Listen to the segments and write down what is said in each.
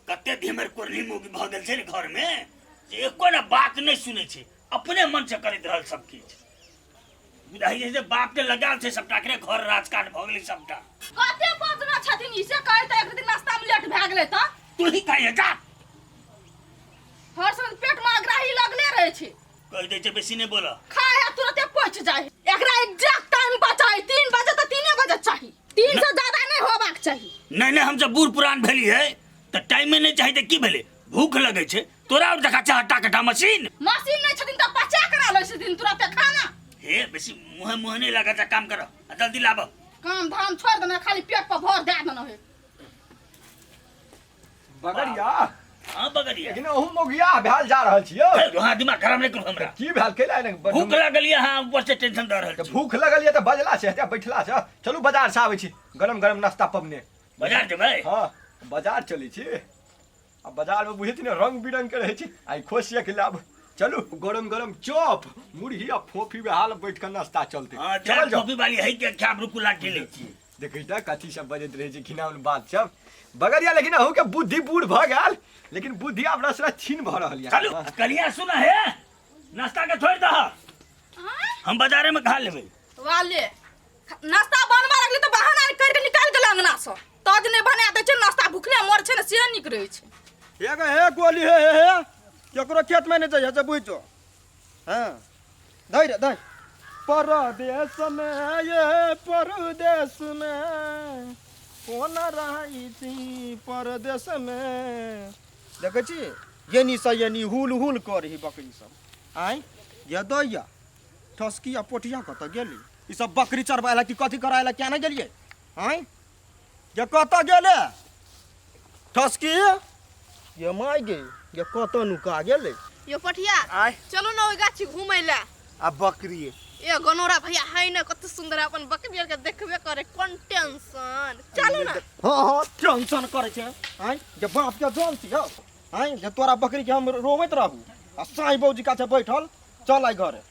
कते धिमर कोरनी मोगी भऽ गेल छै ने घरमे जे एको ने बात नहि सुनै छै अपने मन से करैत रहल सब किछु बुझाइ छै जे बाप के लगाल छै सबटा के घर राजकाट भऽ गेलै सबटा कते बदना छथिन ई से कहै तऽ एक दिन नाश्ता में लेट भए गेलै तऽ तू ही कहिए जा हर समय पेट में अग्राही लगले रहै छै कह दे छै बेसी नहि बोलऽ खाए है तुरंते पच जाए है। एकरा एग्जैक्ट टाइम पर चाही तीन बजे तो तीने बजे चाही तीन से ज्यादा नहीं होबाक चाही नहि नहि हम जब बूढ़ पुरान भेली है तऽ टाइमे नहि चाही तऽ की भेलै भूख लगै छै तोरा आओर देखा छै हट्टा कट्टा मशीन मशीन नहीं छथिन तो पचा करा लो छथिन तुरंते खाना हे बेसी मुँहे मुँहे नहि लगा जा काम करऽ आ जल्दी लाबऽ काम धाम छोड़ देना खाली पेट पर भर दे देना है बगड़िया हाँ बगड़िया लेकिन अहू मोगिया भेल जा रहल छियै है, वहाँ दिमाग खराब नहीं करू हमरा की भेल कैला ने भूख लागल ये हाँ ऊपर से टेंशन दे रहल छी। भूख लगल ये तऽ बजला छै हेतै बैठला छै चलू बाजार से आबै छी गरम गरम नाश्ता पबने बाजार जेबै हाँ बाजार चलै छी आ बाजार में बुझै छी ने रंग बिरंग के रहै छी आइ खोसिया के लाब चलू गरम गरम चॉप मुरही आ फोफी बे हाल बैठ के नाश्ता चलते हाँ चल चार जाओ कॉपी वाली है क्या क्या रुकू लाठी ले छी देखै त कथी सब बजैत रहै छै किना उन बात सब बगरिया लेकिन अहू के बुद्धि बूढ़ भ गेल लेकिन बुद्धि आब रस रस छीन भ रहल यऽ चलू कलिया सुना हे नाश्ता के छोड़ दह हम बाजारे में खा लेबै वाले नाश्ता बनवा लगले तो बहाना कर के निकाल गेल अंगना से तज ने बना दे छै नाश्ता भूखले मर छै ने से निक रहे छै एगो हे गोली हे हे हे केकरो खेत में नहीं जाइए से बुझो हाँ धै रे धै परदेश में ये परदेश में कोन रहै छी परदेश में देखै छी यनी सँ यनी हुल हुल करही बकरी सब आँय ये दैया ठसकी आ पोठिया कतऽ गेली ई सब बकरी चरबै लए कि कथी करै लए किया नहि गेलियै आँय गे कतऽ गेले ठसकी गे माय गे गे कतऽ नुका गेले यो पठिया आय चलू ने ओहि गाछी घूमै लए आ बकरी ए गनोरा भैया है ने कत सुंदर अपन बकरी के देखबे करे कोन टेंशन चलू ना हां हां टेंशन करे छे आय जे बाप के जान छी हो आय जे तोरा बकरी के हम रोवैत रहू आ साई बौजी का छे बैठल चल आइ घरे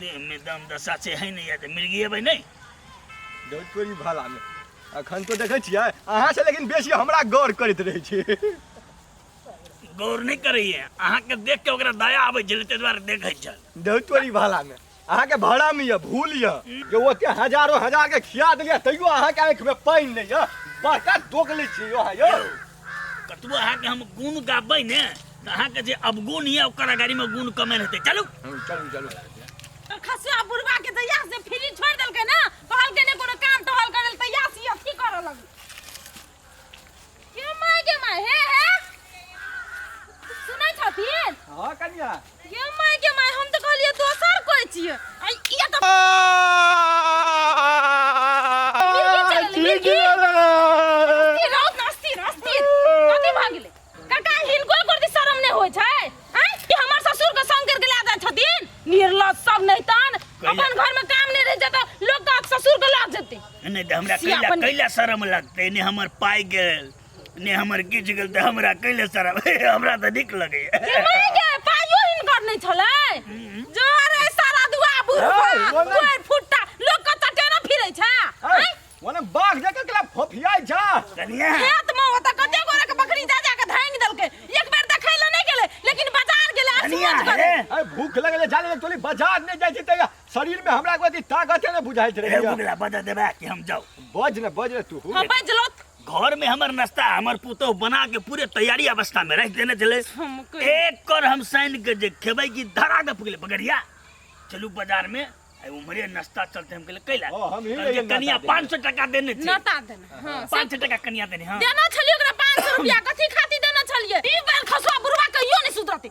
देहमे दम दशा छै है नहि तऽ मिर्गिएबै नहि डोटकोरी भालामे अखन तो देखै छियै अहाँ से लेकिन बेसी हमरा गौर करैत रहै छी गौर नहि करैए अहाँके देख के ओकरा दया आबै छलै ताहि दुआरे देखै छल डोटकोरी भालामे अहाँके भरम यऽ भूल यऽ जे ओते हजारो हजार के खिया देलियै तैयो अहाँके आँखिमे पानि नहि यऽ बड़का दोग लै छी अहाँ यौ कतबो अहाँके हम गुण गाबै ने तऽ अहाँके जे अवगुण यऽ ओकर अगाड़ीमे गुण कमे रहतै चलू चलू चलू तोर खसुआ बुढ़वा के दया से फ्री छोड़ देलकै ना कहलकै ने कोनो काम तोहल करे ले तैयार सी अथी करे लग के माय के माय हे हे सुनै छथिन हाँ कनिया गे माय गे माय हम तऽ कहलियै दोसर कोइ छियै आ ई तऽ ई राउत नास्ती नास्ती कथी भऽ गेलै काका हिनको करती शरम नहि होइ छै आँय ई हमर ससुर के संग करके लए जाइ छथिन निर्लज सब नहि तन अपन घर में काम नहि रह जेतै लोग का ससुर के लग जेतै एने तऽ हमरा से कैला अपन- कैला शरम लगतै एने हमर पाइ गेल ने हमर किछु गेल तऽ हमरा कैले शरम हमरा तऽ नीक लगैए चिमनी के पाइयो हिनकर नहि छलै जो अरे सारा दुआ है, बुढ़वा बोल ना। कोइ फुट्टा लोक कतऽ टेनो फिरै छै हैं? ओने बाघ जकाँ केला फोफियाइ जा कनिया खेत मे ओतऽ कते गोरा के बकरी जा जा के धांगि देलकै एक बेर देखै लए नहि गेलै लेकिन बाजार गेलै आ कनिया सोच करे हे अरे भूख लगले जाले तोली बाजार नहीं जाय जीते शरीर में हमरा कोई ताकत है ना बुझाइत हे रहे बुगला बता देबा कि हम जाऊ बज ने बज ने तू हम बैजलो घर में हमर नाश्ता हमर पुतोह बना के पूरे तैयारी अवस्था में रख देने चले हम कोई- एक कर हम साइन के जे खेबै की धरा दे पकड़े पकड़िया चलू बाजार में आई उमरे नाश्ता चलते हम कहले कैला ओ, हम ही कहलकै, रहियै नाश्ता कनिया देने। 500 टका देने छी नता देना हाँ 500 टका कनिया देने हां देना छलिए ओकरा 500 रुपया कथी खातिर देना छलिए ई बार खसवा बुढ़वा कहियो नहीं सुधरते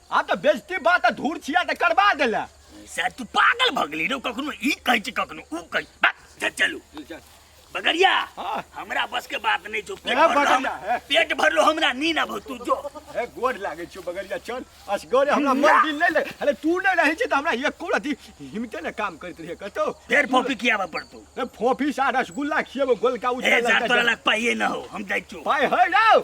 आ तऽ बेजती बात तऽ धूर छिया तऽ करबा देला सर तू पागल भऽ गेली रे कखनो ई कहै छै कखनो ऊ कहै छै। बस, चल चलू बगरिया हाँ। हमरा बस के बात नहीं छो पेट ए, भरलो बगरिया, हम- ए। पेट भरलो हमरा नी ना भो तू जो ए गोड़ लागे छो बगरिया चल असगरे हमरा मन दिल नहीं लगे अरे तू नहीं रहे छी तऽ हमरा एक कोड़ा दी हिमते ने काम करत रहे कतो फेर फोपी कियाबा पड़तो ए फोफी सा रसगुल्ला खिएबो गोलका ए उजरा जा तोरा लग पाइए ना हो हम जाइ छो पाय है राव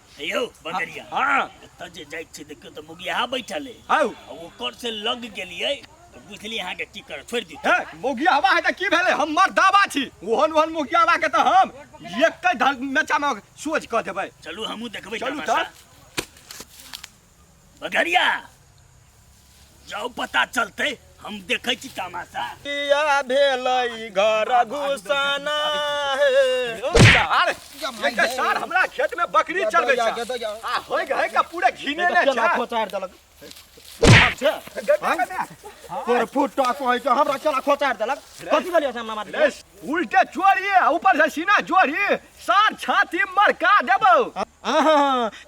यौ बंगरिया हाँ एतऽ जे जाइ छी देखियौ तऽ मुगिया बैठल है हौ आ ओकर से लग गेलियै तऽ बुझलियै अहाँके की करब छोड़ि दियौ हे मोगिया हवा है तऽ की भेलै हमर दावा छी ओहन ओहन मोगिया हवा के तऽ हम एकै धर मेचा मे सोझ कऽ देबै चलू हमहूँ देखबै चलू तमाशा। तऽ बगरिया जाओ पता चलते हम देखे छी तमाशा किया भेलै घर घुसाना हे सार एकर सार हमरा खेत में बकरी चलबै छै आ होय गए का पूरा घिने ने केला छै खोचार देलक हम छै तोर फुटा कहै छै हमरा केला खोचार देलक कथी भेलियै सामना मारि उल्टे चोरी ऊपर से सीना चोरी सर छाती मरका देबो आहा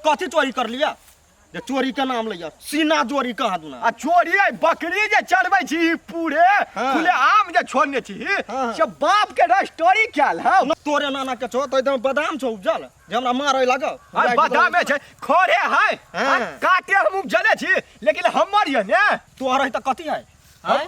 कथी चोरी कर लिया जे चोरी के नाम लिया सीना चोरी कहा दूना आ चोरी है बकरी जे चढ़बै छी ई पूरे हाँ। खुले आम जे छोड़ने छी हाँ। से बाप के रस्टोरी कैल है न तोरे नाना के छो तो एकदम बादाम छो उपजल जे हमरा मारे लागो आ बादामे छै खोरे है हाँ। आ काटे हम उपजले छी लेकिन हमर ये ने तोहर है त कथी है हैं?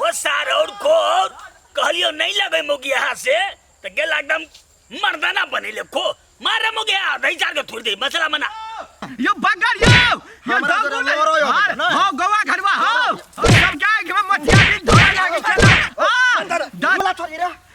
ओ सार और को और कहलियो नहीं लगे मोगी यहाँ से तो गेला एकदम मर्दाना बने ले को मारे मोगी यहाँ दही चार के थोड़ी दे मसला मना यो बगर यो यो हमरा तोरा डंगू लोरो यो हार ना। हो गोवा घरवा हो सब क्या के मटिया भी धोए लागे चला आ डर मला छोरी रे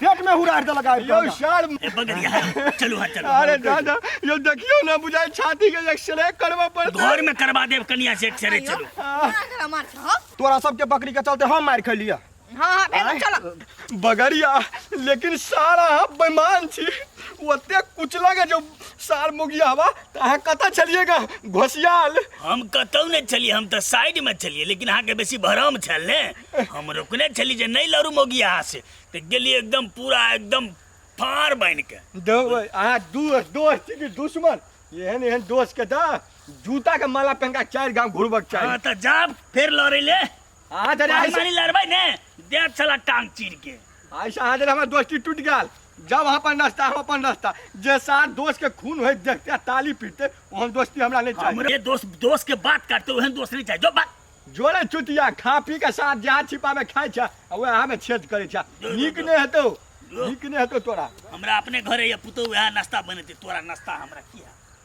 पेट में हुरार दे लगा यो शाल ए बगरिया है चलू हा चलू अरे दादा यो देखियो ना बुझाए छाती के एक्सरे करवा पड़ता घर में करवा देव कनिया से एक्सरे चलू अगर मार के हो तोरा सबके बकरी के चलते हम मार खलिया हां हां भेल चलो बगरिया लेकिन सारा हम बेमान छी ओते कुचला के जो सार मुगिया हवा ताहे कता चलिएगा घोसियाल हम कतौ नहीं चलिए हम तो साइड में चलिए लेकिन अहाँ के बेसी भरम छल ने हम रोकने छली जे नहीं लड़ू मोगी यहाँ से तो गेलिए एकदम पूरा एकदम फाड़ बन के दो अहाँ दू दोस्त छी कि दुश्मन एहन एहन दोस्त के दा जूता के माला पहन के चार गांव घुरबक चाही हाँ तो जा फिर लड़े ले अहाँ जरे पानी ऐसे मानी लड़बै ने दे चला टांग चीर के ऐसे अहाँ जरे हमर दोस्ती टूट गेल जब अहाँ अपन रास्ता हम अपन रास्ता जे सार दोस्त के खून होय देखते आ ताली पीटते ओहन दोस्ती हमरा नहीं चाहिए हमरे दोस्त दोस्त के बात करते ओहन दोस्त नहीं चाहिए जो बात जोड़ै चुतिया खा पी के साथ जहाँ छिपा में खाए छा आ वहाँ में छेद करे छा नीक ने हेतो नीक ने हेतो तोरा हमरा अपने घरे ये पुतौ वएह नाश्ता बनेते तोरा नाश्ता हमरा किया